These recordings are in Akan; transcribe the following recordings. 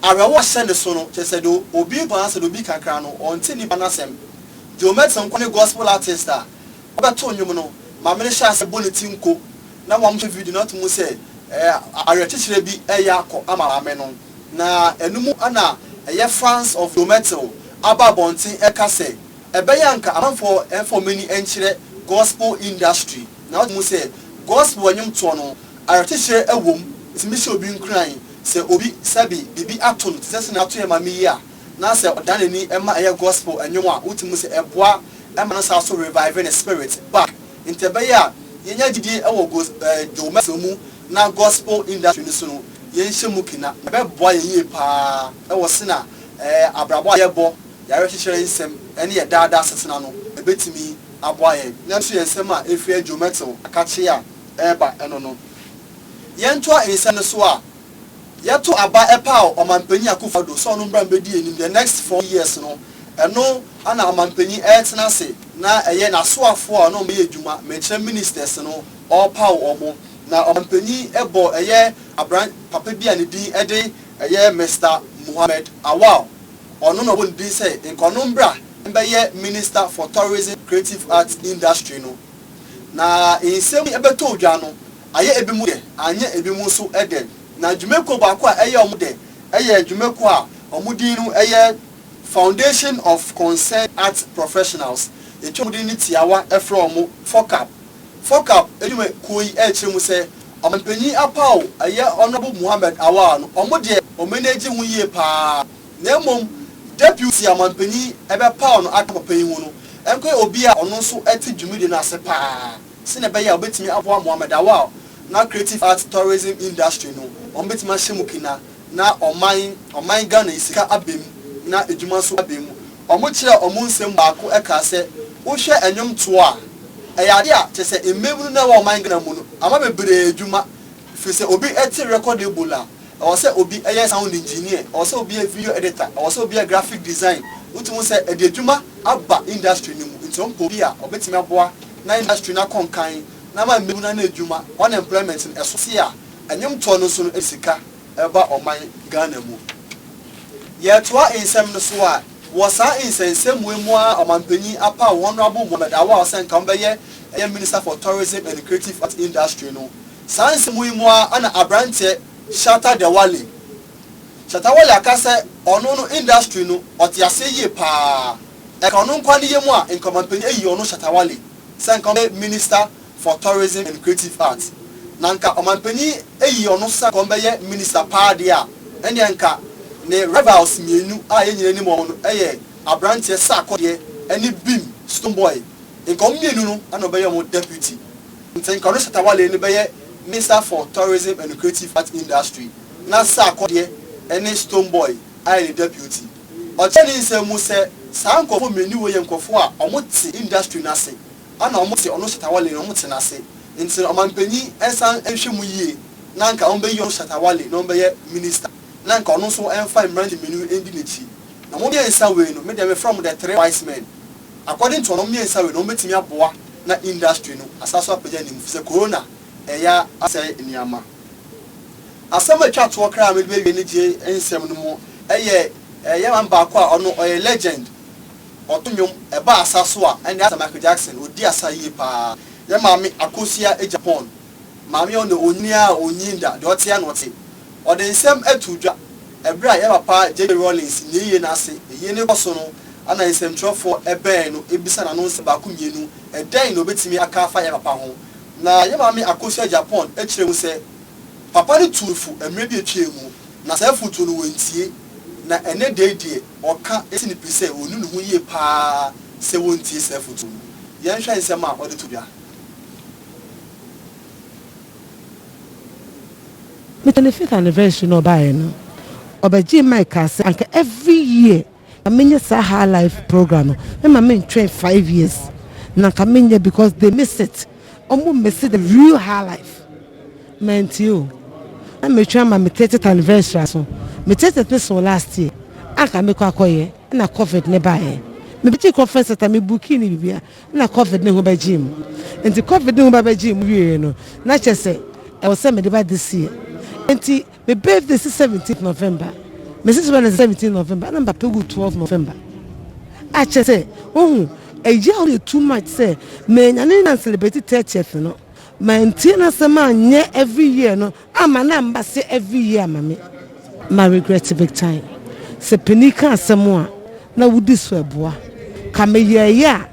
Awerɛhoɔ hyɛ ne so no, kyerɛ sɛ deɛ obi ntɔ n'asɛm deɛ obi ka koraa no ɔnte nnipa no asɛm. Joe Merton nko ne gospel artist a ɔbɛto nnwom no ma mene hyɛɛ aseɛ bɔ ne ti nko na wɔn hwɛ video no ato mu sɛ awerɛkyekyerɛ bi reyɛ akɔ ama maame no na ɛno mu na ɛyɛ fans of Joe Merton aba abɔnten reka sɛ ɛbɛyɛ a nka amanfoɔ mfa wɔn ani nkyerɛ gospel industry na ato mu sɛ gospel nnwom toɔ no Awerɛkyekyerɛ wom tumi hyɛ obi nkuran sɛ obi sɛbe biribi ato no te sɛ sɛnea ato yɛn maame yi a na sɛ ɔdan n'ani ma ɛyɛ gospel nnwom a wote mu sɛ ɛboa ma no saa so revive ne spirit ba nti ɛbɛyɛ a yɛnya gyidie wɔ gos Joe Merson mu na gospel industry no so no yɛnhyɛ mu ke na ɛbɛboa yɛn yie paa wɔ sena ɛɛ abrabɔ a yɛbɔ y'awerɛkyekyerɛ nsɛm ne yɛ daa daa setena no ɛbɛtumi aboa yɛn nanso yɛn nsɛm a ɛfiri Joe Merson akakyee a ɛreba no no. Yɛntoa nsɛm no so a, yɛto aba paw Ɔmampanyin Akufo-Addo sɛ ɔno mmra mbedi anim the next four years no, ɛno na Ɔmampanyin ɛretena ase na ɛyɛ n'asoafo a ɔne wɔn bɛyɛ adwuma, mekyerɛ ministers no, ɔrepaw wɔn. Na Ɔmampanyin bɔ ɛyɛ abran papa bi a ne din de ɛyɛ Mister Mohammed Awal, ɔno na ɔbɔ ne din sɛ nka ɔno mmra mbɛyɛ Minister for Tourism Creative Arts Industry no. Na nsɛm yi bɛtɔ dwa no, ayɛ ebinom dɛ, annyɛ ebinom so dɛ. Na dwumakuo baako a ɛyɛ wɔn dɛ yɛ dwumakuo a wɔn din no yɛ Foundation of Concerned Arts Professionals, yɛtwa wɔn din no tiawa frɛ wɔn FOCAP. FOCAP dwumakuo yi kyerɛ mu sɛ, Ɔmanpanin Apaw, ɛyɛ Honourable Mohammed Awar no, wɔn deɛ wɔn ani gye ho yie pa ara. Na mmom Deputy Amampanyin bɛpaw no aka papa yi ho no nkɔyɛ obi a ɔno nso te dwumadi no ase paa sɛnea ɛbɛyɛ a obetumi aboa Mohammed Awal na Creative Arts Tourism Industry no ma wɔbetumi ahyɛ mu kena na ɔman ɔman Ghana yi sika aba mu na adwuma nso aba mu. Wɔkyerɛɛ wɔn nsɛm mu baako kaa sɛ wohwɛ nnwomtoɔ a, ɛyɛ adeɛ a kyerɛ sɛ mmabunu no a ɛwɔ ɔman Ghana mu no ama bebree adwuma firi sɛ obi te record label a, Ɛwɔ sɛ obi yɛ sound engineer, ɛwɔ sɛ obi yɛ video editor, ɛwɔ sɛ obi yɛ graphic design. Wotumi hu sɛ ɛde adwuma aba industry no mu. Nti wɔpɛ obi a ɔbɛtumi aboa na industry no akɔ nkan na ama mmabunu anya adwuma, unemployment no ɛso se a ɛnwomtoɔ no nso no ɛde sika ɛba ɔman Ghana mu. Yɛretoa nsɛm no so a, wɔ saa nsɛnsɛmua mu ara Ɔmanpanyin apaw Honourable Mohammed Awal sɛ nka ɔmbɛyɛ ɛyɛ Minister for Tourism and Creative Arts Industry no. Saa nsɛmu yi mu ara na abranteɛ Shatta Dewale, Shatta Wale aka sɛ ɔno no industry no ɔte aseɛ yie paa. Ɛka ɔno nkoa ne yam a Nkramanpanin ayi ɔno Shatta Wale sɛ nka ɔmbɛyɛ Minister for Tourism and Creative Arts. Na nka Ɔmanpanin ayi ɔno sɛ nka ɔmbɛyɛ Minister paa deɛ a, ɛnneɛ nka ne rivals mmienu a yɛn nyinaa nim wɔn no yɛ abranteɛ Sarkodie ɛne Bim, Stonebwoy, nka wɔn mmienu no na ɔbɛyɛ wɔn Deputy. Ntsi nka ɔno Shatta Wale no bɛyɛ Minister for Tourism and Creative Art Industry na Sarkodie ne Stonebwoy ayɛ ne Deputy. Ɔkyerɛ ne nsɛm mu sɛ saa nkorɔfo mmieniu wei yɛ nkorɔfo a ɔmo tse industry no ase ana ɔmo tse ɔno Shatta Wale no ɔmo tse n'ase ntsi no ɔmanpanyin nsan nhwɛ mu yie na nka ɔmo bɛyi ɔno Shatta Wale na ɔmo bɛyɛ Minister na nka ɔno nso mfa mmeranteɛ mmieniu ndi n'akyi na ɔmo mmiensa wei no medeɛ mefrɛ ɔmo the three wise men. According to wɔnom mmiɛnsa wei no wɔn bɛtumi aboa na industry no asan so apagya ne mu fisɛ corona ɛya asɛe nneɛma. Asɛm a ɛtwa toɔ kra a mede bɛwie ne gye nsɛm no mu ɛyɛ yɛman baako a ɔno ɔyɛ legend ɔto nnwom ɛba asa so a ɛne asɛ Michael Jackson ɔdi asa yie paa yɛ maame Akosua Agyapong. Maame a ɔne onyin a onnyin da, deɛ ɔteɛ na ɔte. Ɔde nsɛm too dwa. Ɛberɛ a yɛn papa JJ. Rawlings nyɛ yie no ase yie no rekɔ so no, ɛna nsɛmtwerɛfoɔ bɛn no bisa no ano nsɛm baako mmienu, Ɛdɛn na ɔbɛtumi aka afa yɛn papa ho? Na yɛn maame Akosua Agyapong kyerɛɛ mu sɛ, Papa no tuu fo mmerɛ bi a ɛtwaam mu, na saa afotuo no wɔntie. Na ɛnnɛ da yi deɛ, ɔka si ne pi sɛ ɔnu ne ho yie pa ara sɛ wɔntie saa afotuo no. Yɛnhwɛ nsɛm a ɔde to dwa. Me 25th anniversary na ɔbaeɛ no ɔbɛgyee mic kaa sɛ anka every year na menyɛ saa high life program no mɛma mentwɛn five years na anka menyɛ because they miss it ɔmo mmise the real high life mantie o na metwɛn ama me 30th anniversary aso me 30th no soo last year anka mekɔ akɔyɛ ɛna covid no baeɛ mebɛgyee conference center me bookii ne biribiara Nna Covid no ho bɛgyee mu. Ntsi Covid no ho bɛbɛgyee mu wiei no, nna kyerɛ sɛ ɔwɔ sɛ mede ba this year. Ntsi me birthday si seventeenth November. Mesi so Wednesday seventeenth November, nna mapɛ gu twelve November. A kyerɛ sɛ, wohu, ɛyaw me too much sɛ meenya no nnya n-celebrate thirtieth no. Mantsie n'asɛm annyɛ every year no Ah ma na mba se every year ma me ma regret big time sɛ panin ka asɛm a na wodi so ɛboa ka meyɛɛyɛ a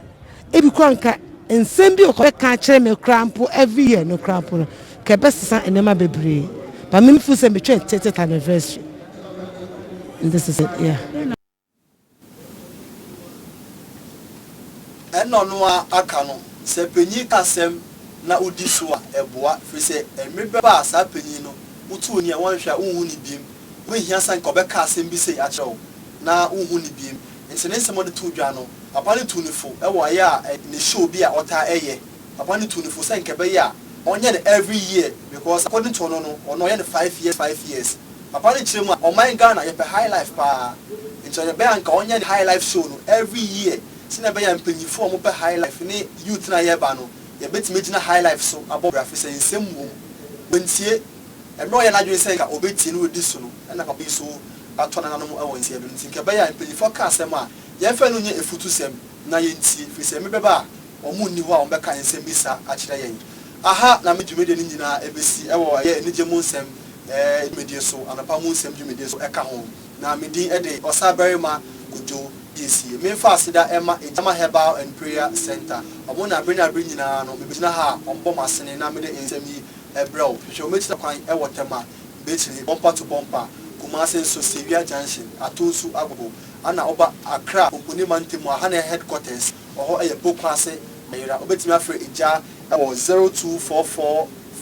ebi koraa nka nsɛm bi ɔkɔ bɛka akyerɛ me koraa mpo every year no koraa mpo no ka ɛbɛsesa nneɛma bebree ba me feel sɛ metwɛn tete anniversary and this is it yeah. Ɛna no a aka no, sɛ panyin asɛm na wodi so a, ɛboa, efisɛ mmere bɛba a saa panyin no, wotu ani a, wɔnhwɛ a, wonhu no bio. Wonhia sɛ anka ɔbɛka asɛm bi sei akyerɛ wo na wonhu no bio. Enti ne nsɛm a ɔde too dwa no, papa no tuu no fo wɔ ɛyɛ a ne show bi a ɔtaa yɛ Papa no tuu no fo sɛ nka ɛbɛyɛ a ɔnyɛ no every year because according to ɔno no ɔno ɔyɛ no five years five years. Papa no kyerɛ mu a ɔman Ghana yɛpɛ high life paa nti ɔyɛ bɛyɛ a nka ɔnyɛ ne high life show no every year sɛnea ɛbɛyɛ a mpanyinfoɔ a wɔpɛ high life ne youth no a yɛreba no yɛbɛtumi agyina high life so abɔ bra fisɛ nsɛm wom wantie mmerɛ ɔyɛɛ n'adwene sɛ nka ɔbɛtie na wadi so no ɛna papa yi so atɔ nananom wɔ nseɛ do nti nka ɛbɛyɛ a mpanyinfoɔ ka asɛm a yɛmfa no nyɛ afutusɛm. na yentie, ɛfiri sɛ mebɛba a, wɔnni hɔ a wɔbɛka nsɛmmisa akyerɛ yɛn. Aha na me dwumadie no nyinaa bɛsi, wɔ ɛyɛ anigye mu nsɛm dwumadie so, anɔpa mu nsɛm dwumadie so ka ho, na me din de Ɔsabarima Kojo Gyessie. Memfa aseda mma Egyama Herbal and Prayer Centre, wɔn na bere ne abere nyinaa no mebɛgyina ha a wɔbɔ m'asene na mede nsɛm yi brɛ wo. Hwehwɛ wɔn akyiri kwan wɔ Tema, Bekyire, Bompa to Bompa, Kumase nso, Sewia Junction, Ato Nsu Agogo, Ana ɔba Accra Ogoni mantam mu a ha na yɛ headquarters wɔ hɔ yɛ Poku ase Meyera wobɛtumi afrɛ egya wɔ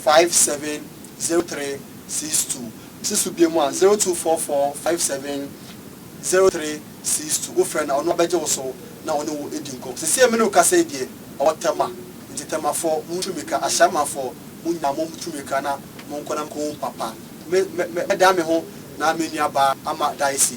0244570362 se so biem a 0244570362 wofrɛ no a ɔno abɛgye wo so na ɔne wo adi nkɔm sesie mene wo kasa yi deɛ ɔwɔ Tema nti Temafoɔ montu mmirika Ashamanfoɔ monyaa mo tu mmirika na monkɔ na monkɔhu papa me me mɛdan me ho na me nua baa Ama Daisy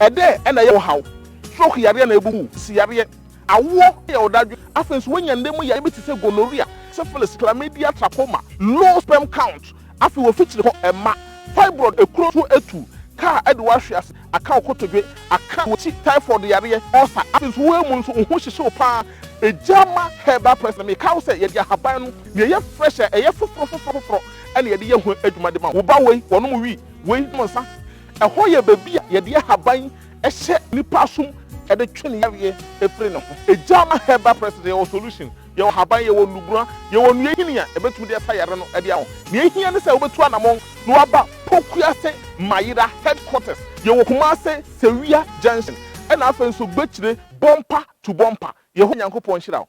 Ɛdɛn na ɛyɛ wo haw? Stroke yareɛ anaa abubuo mu si yareɛ, awoɔ yɛ wo dadwen, afei nso woanya nna mu yareɛ bi te sɛ gonorrhea, syphilis, chlamydia, trachoma, low sperm count, afei w'afikyiri hɔ mma, fibroid, ekuro tuo atu, kaa adi wo ahwe ase, aka wo kotodwe, aka w'akyi, typhoid yareɛ, ulcer, afei nso woamu nso wo ho hyehye wo pa ara. Egyama herbal press no, mekae wo sɛ yɛde ahaban no, nea ɛyɛ fresh a ɛyɛ foforo foforo foforo na yɛde yɛ ho adwuma de ma wo. Wo ba wei, wɔnom wii, wei nom nsa, Ɛhɔ yɛ baabi a yɛde ahaban hyɛ nipa asom de twe ne yareɛ firi ne ho. Egya ma herbal presence, yɛwɔ solution, yɛwɔ ahaban, yɛwɔ nnubura, yɛwɔ nnua nhini a ɛbɛtumi de asa yareɛ no de ama wo. Nea ɛhia ne sɛ wobɛtu anamɔn na woaba Pokuase Mayera headquarters. Yɛwɔ Kumase, Sewia junction, ɛna afei nso Gbekyire, Bompa to Bompa. Yehowa Nyankopɔn nhyira wo.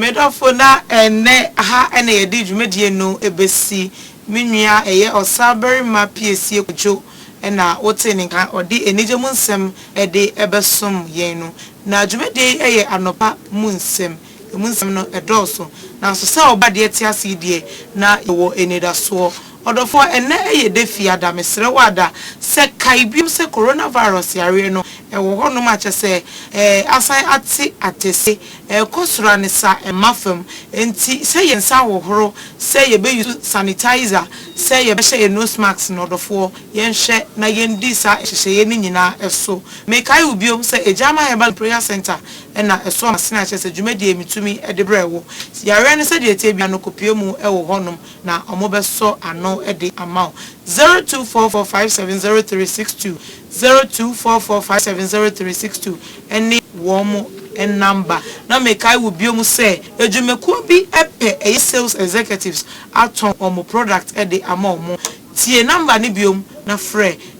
Medɔfo na ɛnnɛ ha na yɛde dwumadie no bɛsi. Me nua ɛyɛ ɔsabarima Piesie Kwadwo na wotee ne nka ɔde anigye mu nsɛm de bɛsom yɛn no. Na dwumadie yi yɛ anɔpa mu nsɛm. Emu nsɛm no dɔɔso, naaso sɛ ɔba deɛ tse ase yi deɛ na yɛwɔ enidasoɔ. Ɔdɔfoɔ, ɛnnɛ yɛ da Fiada, meserɛ wo Ada sɛ kae bio sɛ coronavirus yareɛ no wɔ hɔnom a kyɛsɛ asan atse atɛse, ɛɛkɔ soro a ne sa mma fam, enti sɛ yɛ nsa ahohoro, sɛ yɛbɛ use sanitizer, sɛ yɛbɛhyɛ yɛ nose mask no ɔdɔfoɔ yɛnhwɛ na yɛndi saa nhyehyɛeɛ no nyinaa so. Mekae wo bio sɛ Agyeama Herbal and Prayer Centre na ɛso amasene a kyerɛ sɛ dwumadie yi metumi de brɛ wo. Yareɛ no sɛdeɛ ɛteɛ biara no kɔpue mu wɔ hɔ nom na wɔbɛsɔ ano de ama wo. Zero two four four five seven zero three six two, zero two four four five seven zero three six two ne wɔn namba. Na mekae wo bio mu sɛ adwumakuo bi pɛ ɛyɛ sales executives atɔn wɔn product de ama wɔn. Tie namba no bio na frɛ.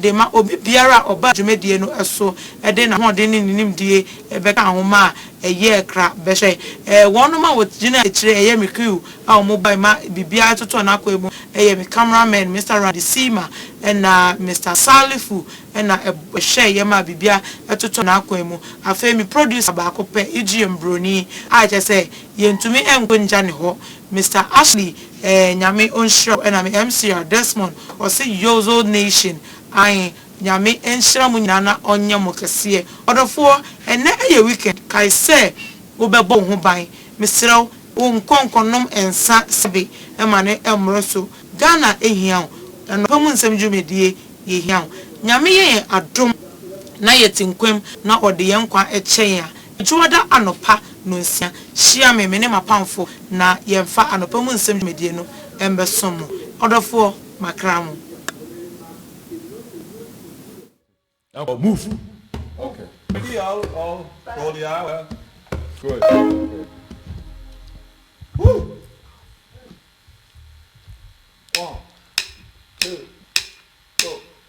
de ma obi biara a ɔbaa dwumadie no so de n'ahoɔden ne ne nimdie bɛkaa ho ma a ɛyɛɛ kra bɛhyɛ. Wɔnom a wɔgyinaa akyire ɛyɛ me crew a wɔbae ma biribiara totɔɔ n'akwan mu ɛyɛ me camera men Mister Radi Sima ɛna Mister Salifu na ɛhwɛeɛ maa biribiara totɔɔ n'akwan mu. Afei me producer baako pɛ, Ijiem Broni a kyerɛ sɛ yɛntumi nkɔ ngya ne hɔ, Mister Ashley Eeh Nyame onhyira wo ɛna me msra Desmond ɔse Yozo nation ae Nyame nhyira mo nyinaa na ɔnyɛ mo kɛseɛ Ɔdɔfoɔ ɛnɛ yɛ weekend kae sɛ wobɛbɔ wo ho ban Mesrɛ wo wo nkɔ nkɔnom nsa sɛbe ma no mmoro so Ghana hia wo Anɔpa mu nsɛm dwumadie yɛhia wo Nyame yɛ yɛn adom na yɛte nkwam na ɔde yɛn nkwa kyɛ yɛn a Dwoada anɔpa nnɔnsia, hyia me, me ne m'apamfoɔ, na yɛmfa anɔpa mu nsɛm dwumadie no mbɛsom mo. Ɔdɔfoɔ, makra mo. Now move. Okay. Ready, all, all, for the hour. Good. Okay. Woo! One, two, go.